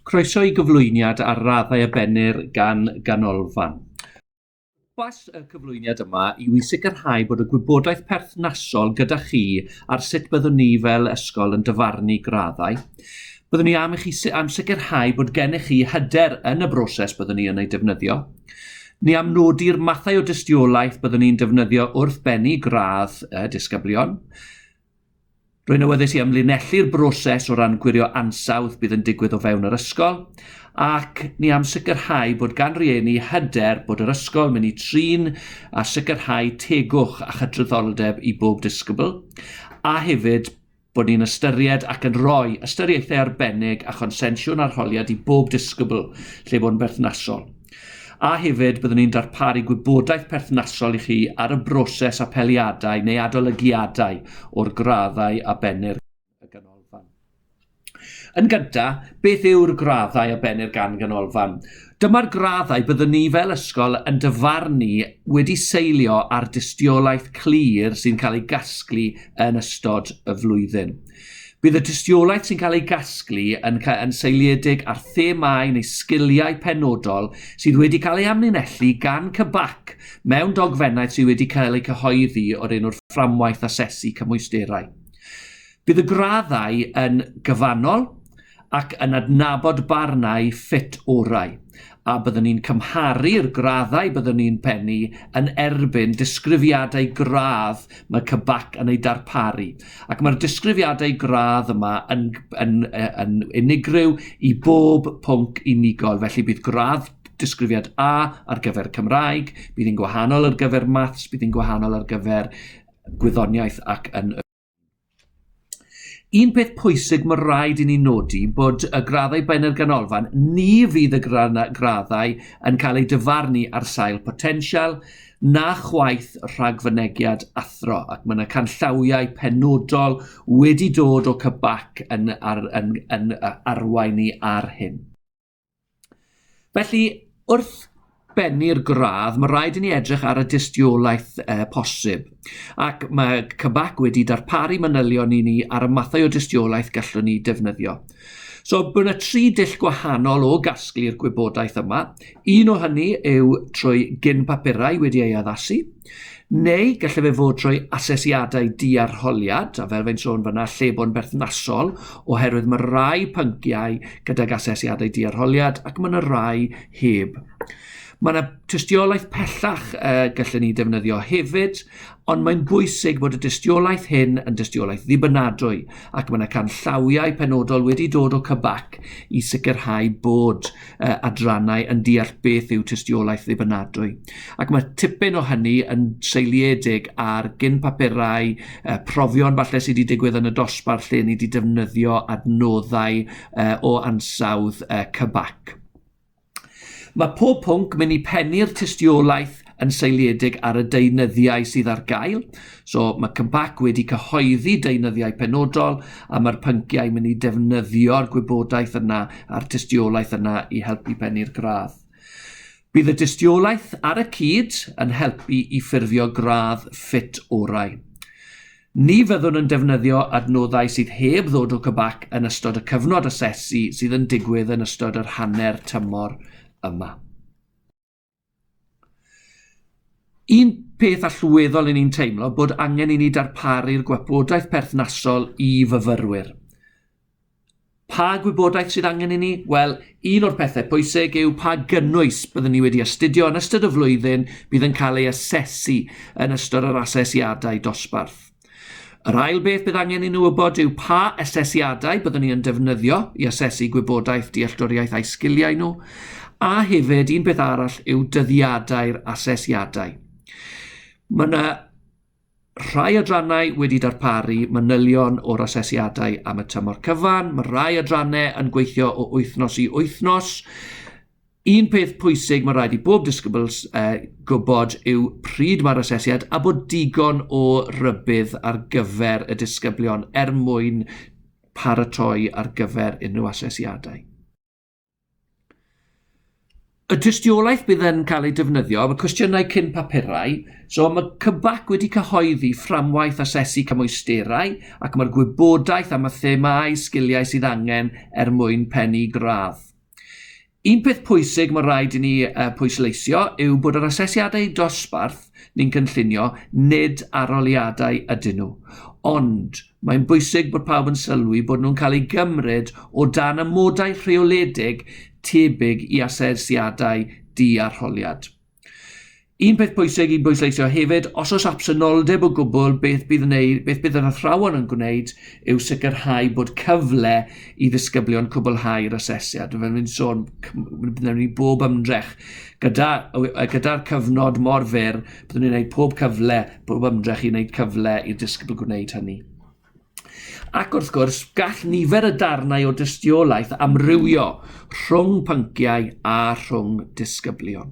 Croeso i gyflwyniad ar raddau a bennir gan ganolfan. Pwrpas y cyflwyniad yma yw i sicrhau bod y gwybodaeth perthnasol gyda chi ar sut byddwn ni fel ysgol yn dyfarnu graddau. Byddwn ni am i chi am sicrhau bod gennych chi hyder yn y broses byddwn ni yn ei defnyddio. Ni am nodi'r mathau o dystiolaeth byddwn ni'n defnyddio wrth bennu gradd y disgyblion. Rwy'n awyddus i amlinellu'r broses o ran gwirio ansawdd bydd yn digwydd o fewn yr ysgol, ac ni am sicrhau bod gan rieni hyder bod yr ysgol mynd i trin a sicrhau tegwch a chydraddoldeb i bob disgybl, a hefyd bod ni'n ystyried ac yn rhoi ystyriaethau arbennig a chonsensiwn arholiad i bob disgybl lle bo'n berthnasol. A hefyd, byddwn ni'n darparu gwybodaeth perthnasol i chi ar y broses apeliadau neu adolygiadau o'r graddau a bennir y Ganolfan. Yn gynta, beth yw'r graddau a bennir gan Ganolfan? Dyma'r graddau byddwn ni fel ysgol yn dyfarnu wedi seilio ar dystiolaeth clir sy'n cael ei gasglu yn ystod y flwyddyn. Bydd y tystiolaeth sy'n cael ei gasglu yn, yn seiliedig ar themâu neu sgiliau penodol sydd wedi cael ei amlinellu gan CBAC mewn dogfennaeth sydd wedi cael eu cyhoeddi o'r enw'r fframwaith asesu cymwysterau. Bydd y graddau yn gyfannol, ac yn adnabod barnau ffit orau, a byddwn ni'n cymharu'r graddau byddwn ni'n pennu yn erbyn disgrifiadau gradd mae CBAC yn eu darparu, ac mae'r disgrifiadau gradd yma yn, yn, yn unigryw i bob pwnc unigol, felly bydd gradd disgrifiad A ar gyfer Cymraeg, bydd hi'n gwahanol ar gyfer Maths, bydd hi'n gwahanol ar gyfer Gwyddoniaeth ac yn y Un peth pwysig mae rhaid i ni nodi bod y graddau Benyr Ganolfan, ni fydd y graddau yn cael eu dyfarnu ar sail potensial na chwaith rhagfynegiad athro ac mae yna canllawiau penodol wedi dod o cybac yn, ar, yn, yn arwain ni ar hyn. Felly, wrth bennu'r gradd, mae rhaid i ni edrych ar y dystiolaeth uh, posib. Ac mae Cybac wedi darparu manylion i ni ar y mathau o dystiolaeth gallwn ni defnyddio. So, bydd yna tri dull gwahanol o gasglu'r gwybodaeth yma. Un o hynny yw trwy gyn papurau wedi ei addasu. Neu gallai fe fod trwy asesiadau diarholiad, a fel fe'n sôn fyna, lle bo'n berthnasol, oherwydd mae rai pynciau gydag asesiadau diarholiad ac mae yna rai heb. Mae yna tystiolaeth pellach uh, gallen ni defnyddio hefyd, ond mae'n bwysig bod y dystiolaeth hyn yn dystiolaeth ddibynadwy ac mae yna canllawiau penodol wedi dod o cybac i sicrhau bod uh, adrannau yn deall beth yw tystiolaeth ddibynadwy. Ac mae tipyn o hynny yn seiliedig ar gyn papurau, uh, profion falle sydd wedi digwydd yn y dosbarth lle ni wedi defnyddio adnoddau uh, o ansawdd uh, cybac. Mae pob pwnc mynd i pennu'r tystiolaeth yn seiliedig ar y deunyddiau sydd ar gael. So mae Cympac wedi cyhoeddi deunyddiau penodol a mae'r pynciau mynd i defnyddio'r gwybodaeth yna a'r tystiolaeth yna i helpu pennu'r gradd. Bydd y dystiolaeth ar y cyd yn helpu i ffurfio gradd ffit orau. Ni fyddwn yn defnyddio adnoddau sydd heb ddod o Cybac yn ystod y cyfnod asesu sydd yn digwydd yn ystod yr hanner tymor yma. Un peth allweddol i ni'n teimlo bod angen i ni darparu'r gwybodaeth perthnasol i fyfyrwyr. Pa gwybodaeth sydd angen i ni? Wel, un o'r pethau pwysig yw pa gynnwys byddwn ni wedi astudio yn ystod y flwyddyn bydd yn cael ei asesu yn ystod yr asesiadau dosbarth. Yr ail beth bydd angen i nhw wybod yw pa asesiadau byddwn ni yn defnyddio i asesu gwybodaeth, dealltwriaeth a'i sgiliau nhw, a hefyd un peth arall yw dyddiadau'r asesiadau. Mae yna rhai adrannau wedi darparu manylion o'r asesiadau am y tymor cyfan. Mae rhai adrannau yn gweithio o wythnos i wythnos. Un peth pwysig mae'n rhaid i bob disgybl uh, gwybod yw pryd mae'r asesiad a bod digon o rybydd ar gyfer y disgyblion er mwyn paratoi ar gyfer unrhyw asesiadau. Y tystiolaeth bydd yn cael ei defnyddio, mae cwestiynau cyn papurau, so mae Cybac wedi cyhoeddi fframwaith asesu cymwysterau ac mae'r gwybodaeth am y themâu sgiliau sydd angen er mwyn pennu gradd. Un peth pwysig mae rhaid i ni uh, pwysleisio yw bod yr asesiadau dosbarth ni'n cynllunio nid aroliadau ydyn nhw. Ond mae'n bwysig bod pawb yn sylwi bod nhw'n cael eu gymryd o dan amodau rheoledig tebyg i asesiadau di-arholiad. Un peth pwysig i bwysleisio hefyd, os oes absenoldeb o gwbl, beth bydd, wneud, beth bydd yr athrawon yn gwneud yw sicrhau bod cyfle i ddisgyblion cwblhau'r asesiad. Fel ni'n sôn, byddwn ni bob ymdrech gyda, gyda'r cyfnod mor fyr, byddwn ni'n gwneud pob cyfle, pob ymdrech i wneud cyfle i'r disgybl gwneud hynny. Ac wrth gwrs, gall nifer y darnau o dystiolaeth amrywio rhwng pynciau a rhwng disgyblion.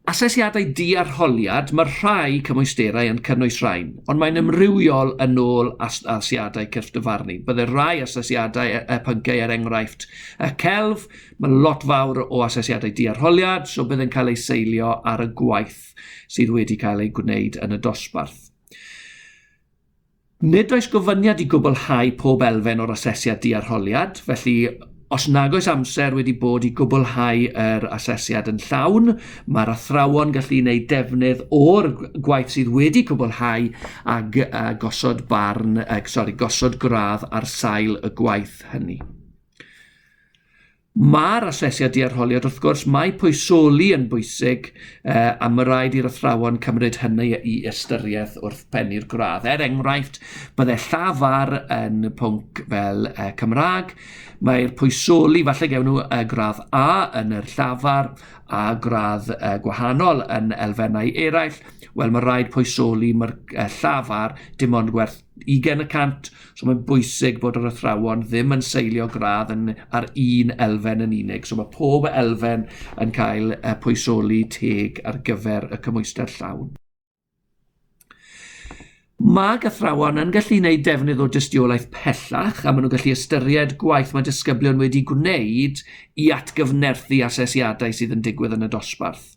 Asesiadau diarholiad, mae'r rhai cymwysterau yn cynnwys rhain, ond mae'n ymrywiol yn ôl asesiadau cyrff dyfarnu. Byddai'r rhai asesiadau y e, pynciau er enghraifft y celf, mae lot fawr o asesiadau diarholiad, so bydd yn cael ei seilio ar y gwaith sydd wedi cael ei gwneud yn y dosbarth. Nid oes gofyniad i gwblhau pob elfen o'r asesiad diarholiad, felly Os nag oes amser wedi bod i gwblhau yr asesiad yn llawn, mae'r athrawon gallu gwneud defnydd o'r gwaith sydd wedi cwblhau a, a gosod barn, uh, sorry, gosod gradd ar sail y gwaith hynny. Mae'r asesiad diarholiad, wrth gwrs, mae poesoli yn bwysig uh, a mae rhaid i'r athrawon cymryd hynny i ystyriaeth wrth pennu'r gradd. Er enghraifft, bydde llafar yn pwnc fel uh, Cymraeg, mae'r poesoli, falle gewn nhw uh, gradd A yn yr llafar a gradd uh, gwahanol yn elfennau eraill, wel mae rhaid poesoli mae'r uh, llafar dim ond gwerth 20 y cant, so mae'n bwysig bod yr athrawon ddim yn seilio gradd yn, ar un elfen yn unig. So mae pob elfen yn cael uh, pwysoli teg ar gyfer y cymwysder llawn. Mae gathrawon yn gallu gwneud defnydd o dystiolaeth pellach a maen nhw'n gallu ystyried gwaith mae disgyblion wedi gwneud i atgyfnerthu asesiadau sydd yn digwydd yn y dosbarth.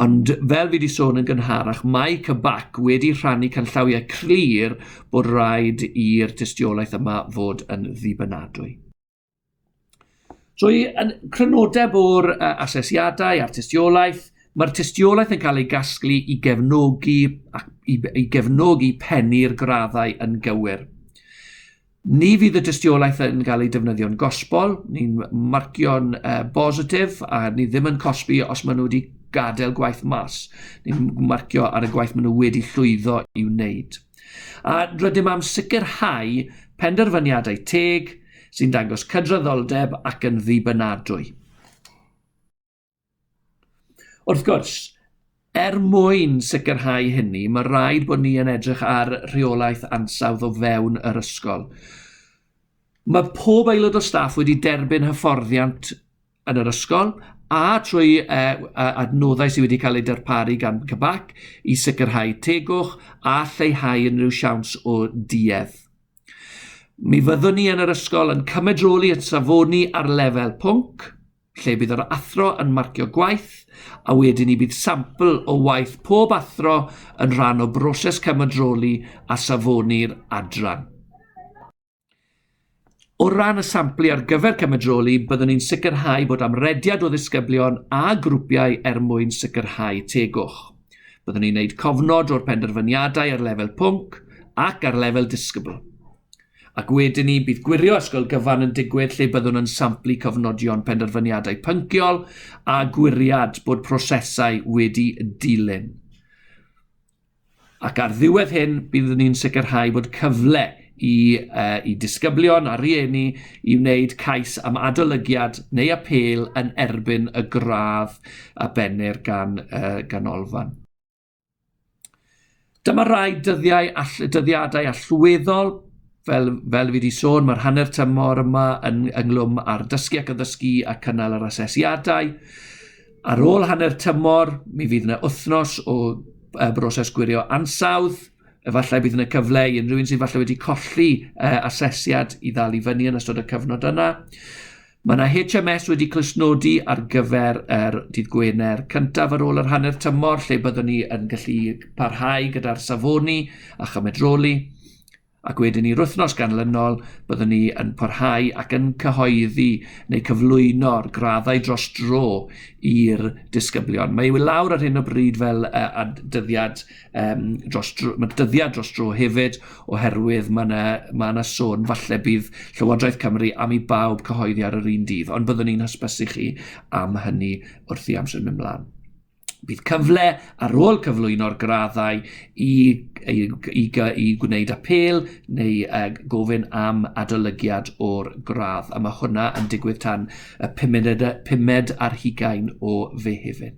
Ond fel fi wedi sôn yn gynharach, mae CBAC wedi rhannu canllawiau clir bod rhaid i'r tystiolaeth yma fod yn ddibynadwy. So i crynodeb o'r asesiadau a'r tystiolaeth, mae'r tystiolaeth yn cael ei gasglu i gefnogi, ac i, i gefnogi pennu'r graddau yn gywir. Ni fydd y dystiolaeth yn cael ei defnyddio'n gosbol, ni'n marcio'n uh, bositif a ni ddim yn cosbi os maen nhw wedi gadael gwaith mas. Ni'n marcio ar y gwaith maen nhw wedi llwyddo i wneud. A rydym am sicrhau penderfyniadau teg sy'n dangos cydraddoldeb ac yn ddibynadwy. Wrth gwrs, er mwyn sicrhau hynny, mae rhaid bod ni yn edrych ar rheolaeth ansawdd o fewn yr ysgol. Mae pob aelod o staff wedi derbyn hyfforddiant yn yr ysgol a trwy uh, adnoddau sydd wedi cael eu darparu gan Cybac i sicrhau tegwch a lleihau unrhyw siawns o duedd. Mi fyddwn ni yn yr ysgol yn cymedroli at safoni ar lefel pwnc, lle bydd yr athro yn marcio gwaith a wedyn ni bydd sampl o waith pob athro yn rhan o broses cymodroli a safoni'r adran. O ran y samplu ar gyfer cymedroli, byddwn ni'n sicrhau bod amrediad o ddisgyblion a grwpiau er mwyn sicrhau tegwch. Byddwn ni'n gwneud cofnod o'r penderfyniadau ar lefel pwnc ac ar lefel disgybl. Ac wedyn 'ny, bydd gwirio ysgol gyfan yn digwydd lle byddwn yn samplu cofnodion penderfyniadau pynciol a gwiriad bod prosesau wedi dilyn. Ac ar ddiwedd hyn, byddwn ni'n sicrhau bod cyfle i, uh, i disgyblion a rhieni i wneud cais am adolygiad neu apel yn erbyn y gradd a bennir gan uh, ganolfan. Dyma rai dyddiau all, dyddiadau allweddol, fel, fel fi wedi sôn, mae'r hanner tymor yma yn ynglwm ar dysgu ac addysgu a cynnal yr asesiadau. Ar ôl hanner tymor, mi fydd yna wythnos o uh, broses gwirio ansawdd, efallai bydd yna cyfle i unrhyw un sydd falle wedi colli uh, asesiad i ddal i fyny yn ystod y cyfnod yna. Mae yna HMS wedi clustnodi ar gyfer yr dydd Gwener cyntaf ar ôl yr hanner tymor lle byddwn ni yn gallu parhau gyda'r safoni a chymed roli ac wedyn i'r wythnos ganlynol byddwn ni yn parhau ac yn cyhoeddi neu cyflwyno'r graddau dros dro i'r disgyblion. Mae ei lawr ar hyn o bryd fel uh, dyddiad um, dros dro, mae dyddiau dros dro hefyd, oherwydd mae yna, mae yna sôn, falle bydd Llywodraeth Cymru am i bawb cyhoeddi ar yr un dydd, ond byddwn ni'n hysbysu chi am hynny wrth i amser mynd mlaen. Bydd cyfle ar ôl cyflwyno'r graddau i, i, i, i gwneud apel neu uh, gofyn am adolygiad o'r gradd, a mae hwnna yn digwydd tan y pumed, pumed ar hugain o fe hefyd.